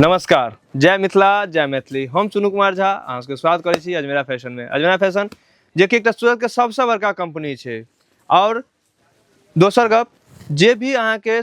नमस्कार जय मिथिला जय मैथिली हम चुनू कुमार झा अहाँ सबके स्वागत करै छी अजमेरा फैशनमे अजमेरा फैशन जेकि एकटा सूरतके सबसँ बड़का कम्पनी छै आओर दोसर गप जे भी अहाँके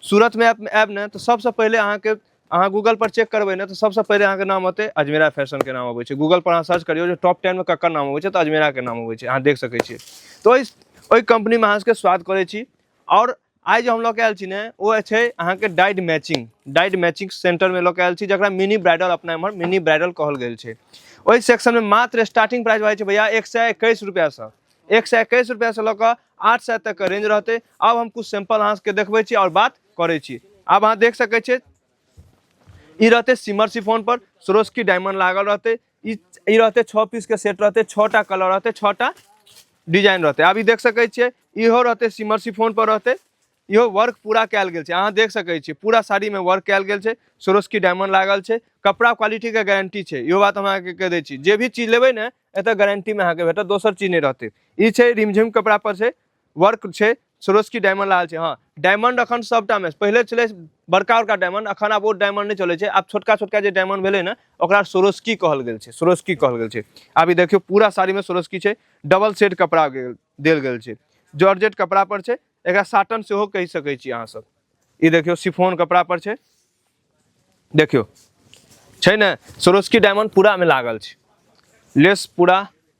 सूरतमे आएब आएब ने तऽ सबसँ पहिले अहाँके अहाँ गूगलपर चेक करबै ने तऽ सबसँ पहिले अहाँके नाम औतै अजमेरा फैशनके नाम अबै छै गूगलपर अहाँ सर्च करियौ जे टॉप टेनमे ककर नाम अबै छै तऽ अजमेराके नाम अबै छै अहाँ देख सकै छियै तऽ ओहि ओहि कम्पनीमे अहाँ सबके स्वागत करै छी आओर आइ जे हम लऽ के आयल छी ने ओ छै अहाँके डाइड मैचिंग डाइड मैचिंग सेंटरमे लऽ के आयल छी जकरा मिनी ब्राइडल अपना एम्हर मिनी ब्राइडल कहल गेल छै ओहि सेक्शनमे मात्र स्टार्टिंग प्राइस भऽ जाइ छै भैया एक सए एकैस रुपैआसँ एक सए एकैस रुपैआसँ लऽ कऽ आठ सए तकके रेंज रहतै आब हम किछु सैंपल अहाँसभके देखबै छी आओर बात करै छी आब अहाँ देख सकै छियै ई रहतै सिमर सिफोनपर सरोस्की डायमंड लागल रहतै ई ई रहतै छओ पीसके सेट रहतै छओ टा कलर रहतै छओ टा डिजाइन रहतै आब ई देख सकै छियै इहो रहतै सिमर सिफोन पर रहतै इहो वर्क पूरा कयल गेल छै अहाँ देख सकै छियै पूरा साड़ीमे वर्क कयल गेल छै सोरोस्की डायमंड लागल छै कपड़ा क्वालिटीके गारंटी छै इहो बात हम अहाँके कहि दै छी जे भी चीज लेबै ने एतऽ गारंटीमे अहाँके भेटत दोसर चीज नहि रहतै ई छै रिमझिम कपड़ा पर छै वर्क छै सरोस्की डायमंड लागल छै हँ डायमंड अखन सभटामे पहिले छलै बड़का बड़का डायमंड अखन आब ओ डायमंड नहि चलै छै आब छोटका छोटका जे डायमंड भेलै ने ओकरा सरोस्की कहल गेल छै सरोस्की कहल गेल छै आब ई देखियौ पूरा साड़ीमे सरोस्की छै डबल सेट कपड़ा गेल- देल गेल छै जॉर्जेट कपड़ा पर छै एकरा साटन सेहो कहि सकै छी अहाँ सब ई देखियौ सिफोन कपड़ा पर छै देखियौ छै ने सरोस्की डायमंड पूरामे लागल छै लेस पूरा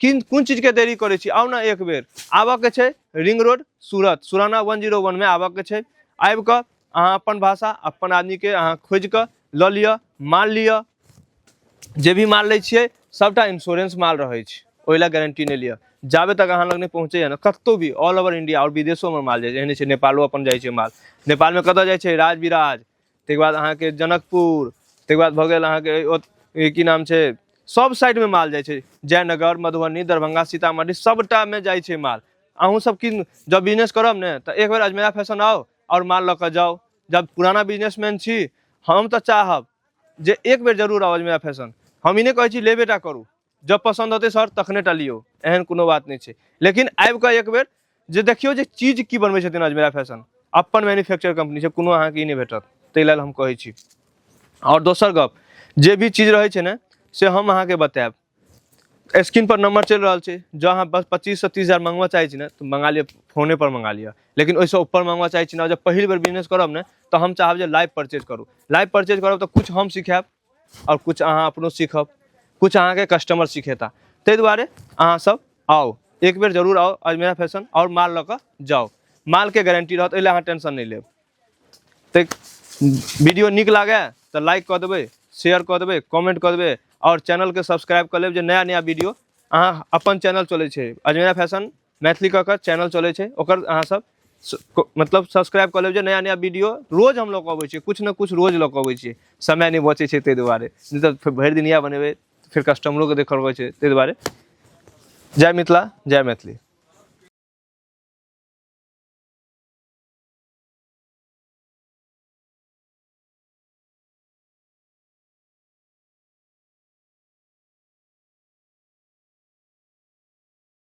किन कोन चीजके देरी करै छी आउ ने एक बेर आबऽके छै ring road Surat Surana one zero वनमे आबऽके छै आबि कऽ अहाँ अपन भाषा अपन आदमीके अहाँ खोजि कऽ लऽ लिअ माल लिअ जे भी माल लै छियै सभटा इंश्योरेंस माल रहै छै ओहि लए गारंटी नहि लिअ जाबे तक अहाँ लग नहि पहुँचैए ने कतहु भी ऑल ओवर इंडिया आओर विदेशोमे माल जाइ छै एहने छै नेपालो अपन जाइ छै माल नेपालमे कतय जाइ छै राज विराज ताहिके बाद अहाँके जनकपुर ताहिके बाद भऽ गेल अहाँके ओ- ई की नाम छै सब साइडमे माल जाइ छै जयनगर मधुबनी दरभंगा सीतामढ़ी सबटामे जाइ छै माल अहूँ सब की जब बिजनेस करब ने तऽ एक बेर अजमेरा फैशन आउ आओर माल लऽ कऽ जाउ जब पुराना बिजनेसमैन छी हम तऽ चाहब जे एक बेर जरूर आउ अजमेरा फैशन हम ई नहि कहै छी लेबेटा करू जब पसंद होते सर तखने टा लियो एहन कोनो बात नहीं है लेकिन आबि कऽ एक बेर जे देखियो जे चीज की बनबै छथिन अजमेरा फैशन अपन मैन्युफैक्चर कंपनी से कोनो अहाँके ई नहि भेटत ताहि लेल हम कहै छी आओर दोसर गप जे भी चीज रहै छै ने से हम अहाँके बतायब स्क्रीन पर नंबर चलि रहल छै जँ अहाँ बस पच्चीस से तीस हजार मंगवा चाहै छी ने तऽ मंगा लिअ फोने पर मंगा लिअ लेकिन ओहिसँ ऊपर मंगवा चाहै छी ने जब पहिल बेर बिजनेस करब ने तऽ हम चाहब जे लाइव परचेज करू लाइव परचेज करब तऽ कुछ हम सिखायब आओर किछु अहाँ अपनो सीखब किछु अहाँके कस्टमर सिखेता ताहि दुआरे अहाँ सब आउ एक बेर जरूर आउ अजमेरा फैशन आओर माल लऽ कऽ जाउ मालके गारंटी रहत एहि लए अहाँ टेंशन नहि लेब तऽ वीडियो नीक लागए तऽ लाइक कऽ देबै शेयर कऽ देबै कमेंट कऽ देबै आओर चैनलके सब्सक्राइब कऽ लेब जे नया नया वीडियो अहाँ अपन चैनल चलै छै अजमेरा फैशन मैथिली कऽ कऽ चैनल चलै छै ओकर अहाँ सब स- को- मतलब सब्सक्राइब कऽ लेब जे नया नया वीडियो रोज हम लऽ कऽ अबै छियै किछु ने किछु रोज लऽ कऽ अबै छियै समय नहि बचै छै ताहि दुआरे नहि तऽ फेर भरि दिन इएह बनेबै फेर कस्टमरोके देखऽ पड़ै छै ताहि दुआरे जय मिथिला जय मैथिली